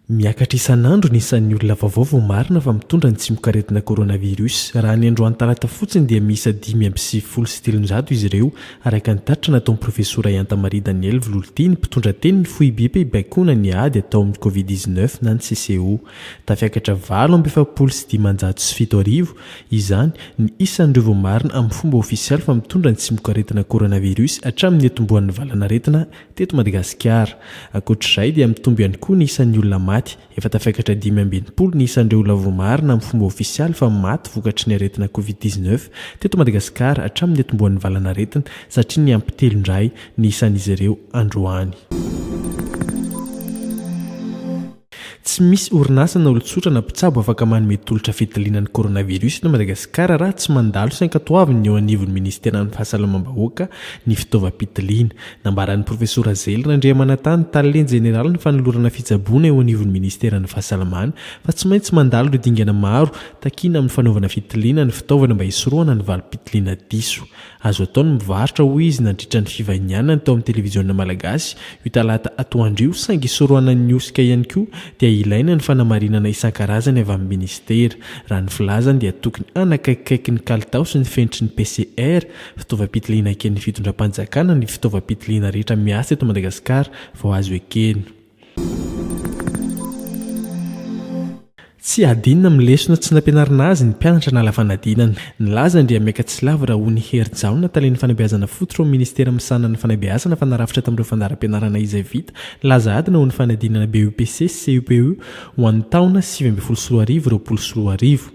Miakatra isan'andro ny isan'ny olona vaovao voamarina fa mitondra ny tsimokaretina coronavirus. Raha ny androany talata fotsiny dia miisa dimy amby sivifolo sy telonjato izy ireo, araka ny tatitra nataon'ny profesora Iantamari Daniel Vololotiny, mpitondra tenin'ny foibem-pibaikoana ny ady atao amin'ny covid dix-neuf na ny CCO. Tafiakatra valo amby efapolo sy dimanjato sy fito arivo izany ny isan'ireo voamarina amin'ny fomba ofisialy fa mitondra ny tsimokaretina coronavirus hatramin'ny niatombohan'ny valanaretina teto Madagasikara. Ankoatr'izay dia mitombo ihany koa ny isan'ny olona maty. Efa tafiakatra dimy amby enimpolo ny isan'ireo olona voamarina amin'ny fomba ofisialy fa maty vokatry ny aretina covid dix neuf teto Madagasikara hatramin'ny niatombohan'ny valanaretina satria niampy telo indray ny isan'izy ireo androany. Tsy misy orinasa na olon-tsotra na mpitsabo afaka manome tolotra fitiliana ny coronavirus eto Madagasikara raha tsy mandalo sy ankatoavin'ny eo anivon'ny Minisiteran'ny Fahasalamam-bahoaka ny fitaovam-pitiliana. Nambaran'ny Profesora Zely Randriamanantany, Tale Jeneralin'ny Fanolorana Fitsaboana eo anivon'ny Minisiteran'ny Fahasalamana, fa tsy maintsy mandalo ireo dingana maro takiana amin'ny fanaovana fitiliana ny fitaovana mba hisorohana ny valim-pitiliana diso. Azo atao ny mivarotra, hoy izy nandritra ny fivahinianany tao amin'ny televiziona malagasy io talata atoandro io saingy isorohanan'ny hosoka ihany koa dia ilaina ny fanamarinana isan-karazany avy amin'ny minisitera. Raha ny filazany dia tokony hanakaikikaiky ny kalitao sy ny fenitry ny PCR, fitaovam-pitiliana eken'ny fitondram-panjakana, ny fitaovam-pitiliana rehetra miasa eto Madagasikara vao azo ekena. Tsy hadinina amin'ny lesona tsy nampianarina azy ny mpianatra nala fanadinana. Nilaza Andriamiaika Tsilavo Rahony Herijaona, talen'ny fanabeazana fototra ao amin'ny minisitera misahana ny fanabeazana fa narafitra tamin'ireo fandaharam-pianarana izay vita ny laza adina ho ny fanadinana BEPC sy CEPE ho an'ny taona sivy ambin'ny folo sy roa arivo, roapolo sy roa arivo.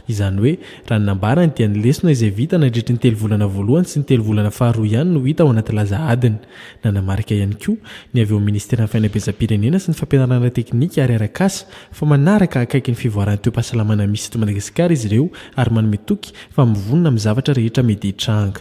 Izany hoe, raha ny nambarany dia ny lesona izay vita nandritry ny telo volana voalohany sy ny telo volana faharoa ihany no hita ao anaty laza adiny. Nanamarika ihany koa ny avy ao amin'ny Ministeran'ny Fainabeazam-pirenena sy ny Fampianarana Teknika ary Arakasa fa manaraka akaiky ny fivoaran'ny toe-pahasalamana misy eto Madagasikara izy ireo ary manome toky fa mivonona amin'ny zavatra rehetra mety hitranga.